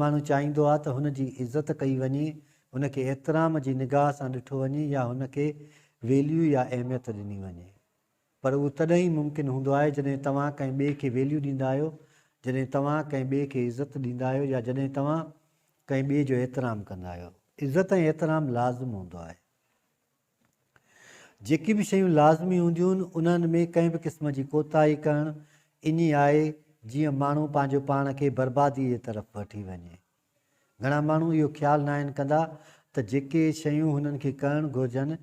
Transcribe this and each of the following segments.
ماڻهو چاهيندو آهي ته هن جي عزت ڪئي وڃي، هن کي احترام جي نگاهه سان ڏٺو وڃي يا هن کي ويليو يا اهميت ڏني وڃي. پر اهو تڏهن ئي ممڪن هوندو آهي جڏهن توهان ڪنهن ٻئي کي ويليو ڏيندا آهيو، جڏهن توهان ڪنهن ٻئي کي عزت ڏيندا آهيو يا جڏهن توهان ڪنهن ٻئي جو احترام ڪندا آهيو. عزت ۽ احترام لازم هوندو آهي. جيڪي به شيون لازمي هونديون انهن ۾ ڪنهن به قسم جي ڪوتاهي ڪرڻ انهي آهي جيئن ماڻهو پنهنجو پاڻ کي بربادي جي طرف وٺي وڃي. گهڻا ماڻهو اهو خيال ناهن ڪندا ته جيڪي شيون هنن کي ڪرڻ گهرجن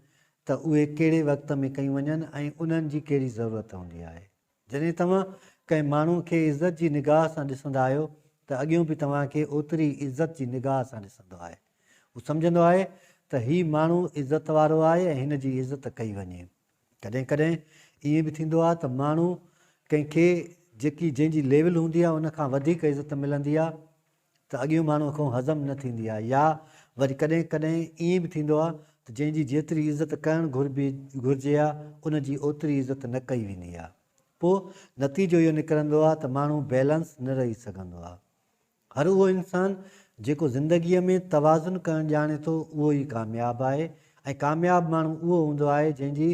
ته اهي ڪهڙي وقت ۾ ڪيون وڃن ۽ انهن جي ڪهڙي ضرورت هوندي آهي. جڏهن توهان ڪنهن ماڻهو کي عزت جي نگاهه سان ڏسندا آهيو ته اڳيون به توهان کي اوتري ئي عزت جي نگاهه سان ڏسندو آهي. هو سمجهندو آهي ته هي ماڻهو عزت وارو آهي ۽ هن جي عزت ڪئي وڃي. ڪڏهن ڪڏهن ائين به ٿيندو آهي ته ماڻهو ڪنهن کي جيڪي جنهن جي ليول هوندي آهي ان کان وڌيڪ عزت ملندي آهي. ته اڳيون ماڻهوء کان هضم نه ٿيندي آهي يا وري ڪڏهن ڪڏهن ائين به ٿيندو آهي ته جنهن جي جيتري عزت ڪرڻ گهرجي ها ان جي اوتري عزت نه ڪئي ويندي آهي پوء نتيجو اهو نڪرندو آهي ته ماڻهو بيلنس نه رهي سگهندو آهي هر اهو انسان جيڪو زندگيء ۾ توازن ڪرڻ ڄاڻي ٿو اهو ئي ڪامياب آهي ۽ ڪامياب ماڻهو اهو هوندو آهي جنهن جي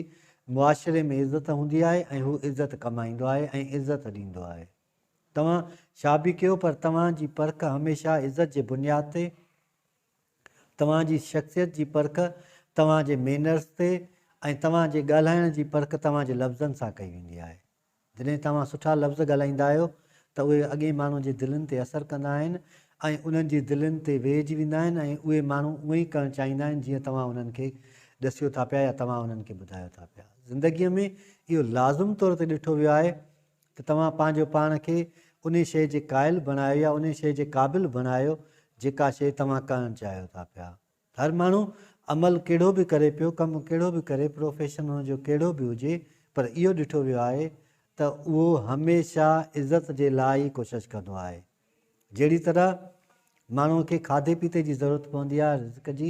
معاشري ۾ عزت هوندي آهي ۽ هو عزت ڪمائيندو آهي ۽ عزت ڏيندو آهي. توهان ڇا به ڪيو پر توهان جي پرک هميشه عزت جي بنياد تي، توهان جي شخصيت جي پرک توهان جي مينرز تي ۽ توهان جي ڳالهائڻ جي پرک توهان جي لفظن سان ڪئي ويندي آهي. جڏهن توهان سٺا لفظ ڳالهائيندا آهيو ته اهي اڳئين ماڻهن جي دلين تي اثر ڪندا آهن ۽ انهن جي دلين تي ويهجي ويندا آهن ۽ اهي ماڻهو اونء ئي ڪرڻ چاهيندا آهن جيئن توهان انهن کي ڏسيو ٿا پيا يا توهان انهن کي ٻڌايو ٿا پيا. زندگيء ۾ اهو لازم طور تي ڏٺو ويو آهي ته توهان پنهنجو پاڻ کي انهي شيء جي قائل بڻايو يا انهي شيء جي قابل بڻايو جيڪا شيء توهان ڪرڻ چاهيو ٿا پيا. هر ماڻهو عمل ڪهڙو به ڪري پيو، ڪم ڪهڙو به ڪري، پروفيشن هن جو ڪهڙو به هجي پر اهو ڏٺو ويو آهي ته اهو هميشه عزت جي لاء ئي ڪوشش ڪندو آهي. جهڙي طرح ماڻهوء کي کاڌي پيتي جي ضرورت پوندي آهي رزق جي،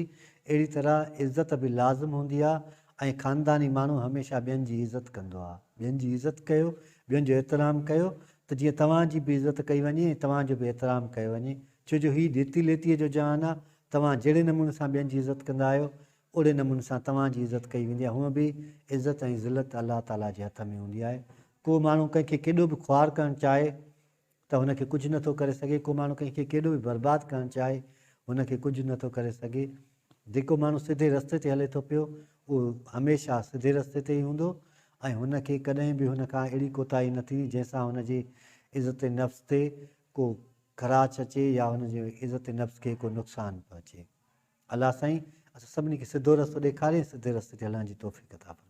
اهڙي طرح عزت به لازم هوندي آهي ۽ خانداني ماڻهو هميشه ٻين جي عزت ڪندو آهي. ٻين جي عزت ڪيو، ٻين جو احترام ڪيو ته جيئن توهان جي به عزت ڪئي وڃي ۽ توهان جو به احترام ڪيو وڃي، ڇو جو هي ڏيتي ليتيء جو جهان آهي، توهان جهڙي نموني سان ٻين جي عزت ڪندا آهيو، اوڙي نموني سان توهان جي عزت ڪئي ويندي آهي، هونء به عزت ۽ ذلت الله تعاليٰ جي هٿ ۾ هوندي آهي، ڪو ماڻهو ڪنهن کي ڪيڏو به خوار ڪرڻ چاهي، ته هن کي ڪجهه نٿو ڪري سگهي، ڪو ماڻهو ڪنهن کي ڪيڏو به برباد ڪرڻ چاهي، هن کي ڪجهه نٿو ڪري سگهي. جيڪو ماڻهو سڌي رستي تي هلي ٿو پيو، اهو هميشه سڌي رستي تي ئي هوندو ۽ هن کي ڪڏهن به هن کان اهڙي ڪوتاهي نه ٿيندي، جنهن سان هن جي عزت نفس تي ڪو خراش اچي يا هن جي عزت نفس کي ڪو نقصان پهچي. الله سائين اسان سڀني کي سڌو رستو ڏيکاري ۽ سڌي رستي تي هلڻ جي توفيق عطا فرمائي.